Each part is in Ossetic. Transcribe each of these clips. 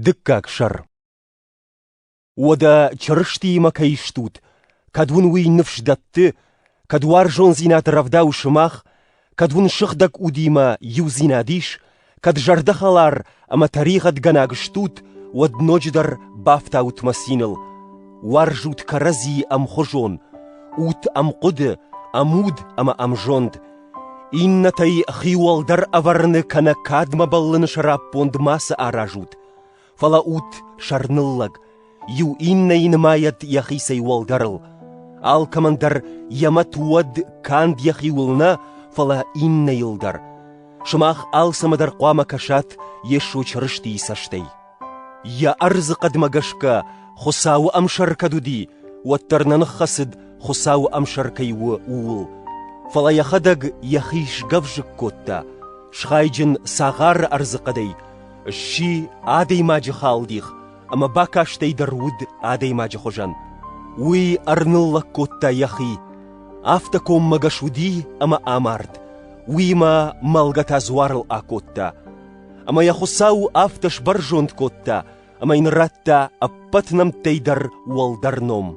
Дыккаг сӕр Уӕдӕ Чырыстиимӕ кӕй стут, кӕд уын уый ныфс дӕтты, кӕд уарзондзинад рӕвдауы сымах, кӕд уын сыгъдӕг удимӕ иудзинад ис, кӕд зӕрдӕхӕлар ӕмӕ тӕригъӕдгӕнаг стут, уӕд ноджыдӕр бафтаут мӕ циныл, уарзут кӕрӕдзи ӕмхуызон, ут ӕмхъуыды, ӕмуд ӕмӕ ӕмзонд, Иннӕтӕй хиуӕлдӕр ӕвӕрыны кӕнӕ кадмӕ бӕллыны сӕраппонд мацы аразут, фӕлӕ ут сӕрныллӕг, иу иннӕйы нымайӕд йӕхицӕй уӕлдӕрыл, алкӕмӕн дӕр йӕ мӕт уӕд канд йӕхиуыл нӕ, фӕлӕ иннӕйыл дӕр. Сымах алцӕмӕ дӕр хъуамӕ кӕсат Йесо Чырыстийы цӕстӕй. Йӕ ӕрдзы хъӕдмӕ гӕсгӕ Хуыцауы ӕмсӕр кӕд уыди, уӕддӕр нӕ ныххӕцыд, Хуыцауы ӕмсӕр кӕй у, ууыл, фӕлӕ йӕхӕдӕг йӕхи сгӕвзыкк кодта, схайджын цагъары ӕрдзыхъӕдӕй, сси адӕймаджы халдих ӕмӕ бакастӕй дӕр уыд адӕймаджы хуызӕн. Уый ӕрныллӕг кодта йӕхи, афтӕ коммӕгӕс уыди ӕмӕ амард, уыимӕ мӕлгӕ та дзуарыл акодта. Ӕмӕ йӕ Хуыцау афтӕ сбӕрзонд кодта, ӕмӕ йын радта ӕппӕт нӕмттӕй дӕр уӕлдӕр ном,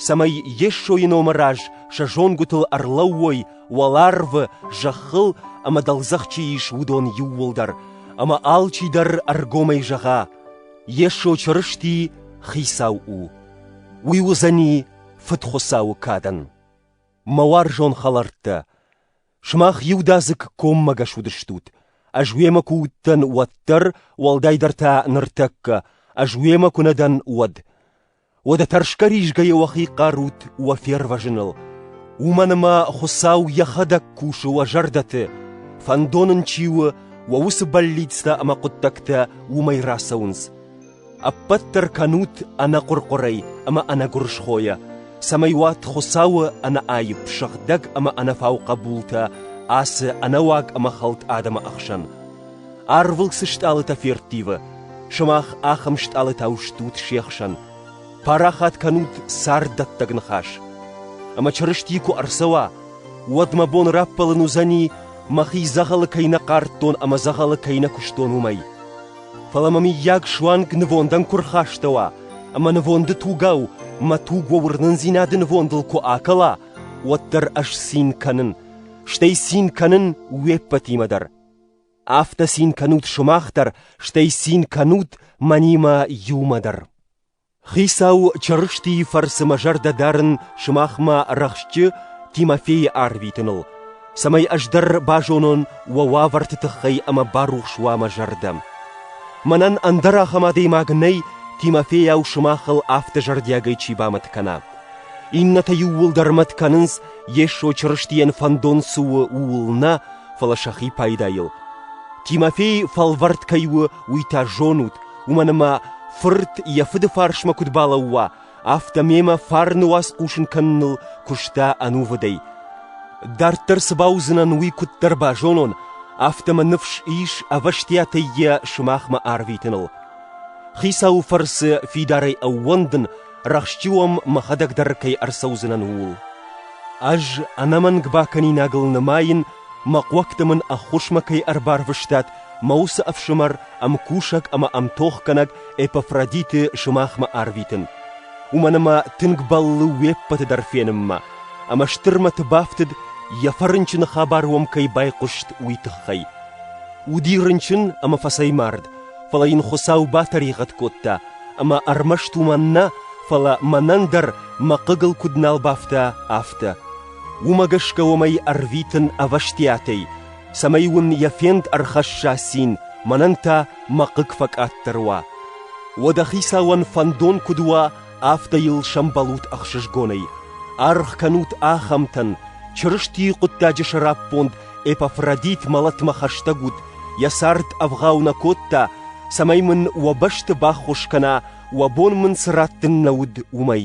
цӕмӕй Йесойы номы раз сӕ зонгуытыл ӕрлӕууой уӕларвы зӕххыл ӕмӕ дӕлдзӕх чи ис, уыдон иууылдӕр, ӕмӕ алчи дӕр ӕргомӕй зӕгъа: Йесо Чырысти Хицау у. Уый уыдзӕни Фыдхуыцауы кадӕн. Мӕ уарзон хӕлӕрттӕ! Сымах иудадзыг коммӕгӕс уыдыстут, ӕз уемӕ куы уыдтӕн, уӕддӕр, уӕлдайдӕр та ныртӕккӕ, ӕз уемӕ куы нӕ дӕн, уӕд. Уӕдӕ тӕрсгӕ-ризгӕйӕ уӕхи хъарут уӕ фервӕзыныл. Уымӕн ӕмӕ Хуыцау йӕхӕдӕг кусы уӕ зӕрдӕты, фӕндон ын чи у, уӕ уыцы бӕллицтӕ ӕмӕ хъуыддӕгтӕ уымӕй рацӕуынц. Ӕппӕт дӕр кӕнут ӕнӕхъуыр-хъуырӕй ӕмӕ ӕнӕгуырысхойӕ, цӕмӕй уат Хуыцауы ӕнӕаипп сыгъдӕг ӕмӕ ӕнӕфау хъӕбултӕ ацы ӕнӕуаг ӕмӕ хӕлд адӕмы ӕхсӕн. Арвыл цы стъалытӕ ферттивы, сымах ахӕм стъалытау стут се хсӕн. Парахат кӕнут царддӕттӕг ныхас. Ӕмӕ Чырысти куы ӕрцӕуа, уӕд мӕ бон раппӕлын уыдзӕни, мӕхи дзӕгъӕлы кӕй нӕ хъардтон ӕмӕ дзӕгъӕлы кӕй нӕ куыстон, уымӕй. Фӕлӕ мӕ мыййаг суанг нывондӕн куы рхастӕуа, ӕмӕ нывонды тугау мӕ туг уӕ уырнындзинады нывондыл куы акӕла, уӕддӕр ӕз цин кӕнын, стӕй цин кӕнын уе ппӕтимӕ дӕр. Афтӕ цин кӕнут сымах дӕр, стӕй цин кӕнут мӕнимӕ иумӕ дӕр. Хицау Чырыстийы фӕрцы мӕ зӕрдӕ дарын сымахмӕ рӕхстджы Тимофейы арвитыныл, цӕмӕй ӕз дӕр базонон уӕ уавӕрты тыххӕй ӕмӕ барухс уа мӕ зӕрдӕ. Мӕнӕн ӕндӕр ахӕм адӕймаг нӕй, Тимофейау сымахыл афтӕ зӕрдиагӕй чи бамӕт кӕна. Иннӕтӕ иууылдӕр мӕт кӕнынц, Йесо Чырыстийӕн фӕндон цы у, ууыл нӕ, фӕлӕ сӕхи пайдайыл. Тимофей фӕлвӕрд кӕй у, уый та зонут, Уымӕн ӕмӕ фырт йӕ фыды фарсмӕ куыд балӕууа, афтӕ мемӕ фарны уац хъусын кӕныныл куыста ӕнувыдӕй. Дарддӕр цы бауыдзынӕн, уый куыддӕр базонон, афтӕ мӕ ныфс ис ӕвӕстиатӕй йӕ сымахмӕ арвитыныл. Хицауы фӕрцы фидарӕй ӕууӕндын, рӕхстджы уӕм мӕхӕдӕг дӕр кӕй ӕрцӕудзынӕн, ууыл. Ӕз ӕнӕмӕнг бакӕнинагыл нымайын Мӕ хъуӕгты мын ӕххуысмӕ кӕй ӕрбарвыстат, мӕ уыцы ӕфсымӕр ӕм кусӕг ӕмӕ ӕмтохгӕнӕг Эпафродиты сымахмӕ арвитын. Уымӕн ӕмӕ тынг бӕллы уе ппӕты дӕр фенынмӕ, ӕмӕ стырмӕты бафтыд, йӕ фӕрынчыны хабар уӕм кӕй байхъуыст, уый тыххӕй. Уыди рынчын ӕмӕ фӕцӕймард, фӕлӕ йын Хуыцау батӕригъӕд кодта, ӕмӕ ӕрмӕст уымӕн нӕ, фӕлӕ мӕнӕн дӕр мӕ хъыгыл куыд нал бафта, афтӕ. Уымӕ гӕсгӕ уымӕй ӕрвитын ӕвӕстиатӕй, цӕмӕй уын йӕ фенд ӕрхӕсса цин, мӕнӕн та мӕ хъыг фӕкъаддӕр уа. Уӕдӕ Хицауӕн фӕндон куыд уа, афтӕ йыл сӕмбӕлут ӕхсызгонӕй. Аргъ кӕнут ахӕмтӕн, Чырыстийы хъуыддаджы сӕраппонд Эпафродит мӕлӕтмӕ хӕстӕг ут, йӕ цард ӕвгъау нӕ кодта, цӕмӕй мын уӕ бӕсты баххуыс кӕна, уӕ бон мын цы раттын нӕ уыд, уымӕй.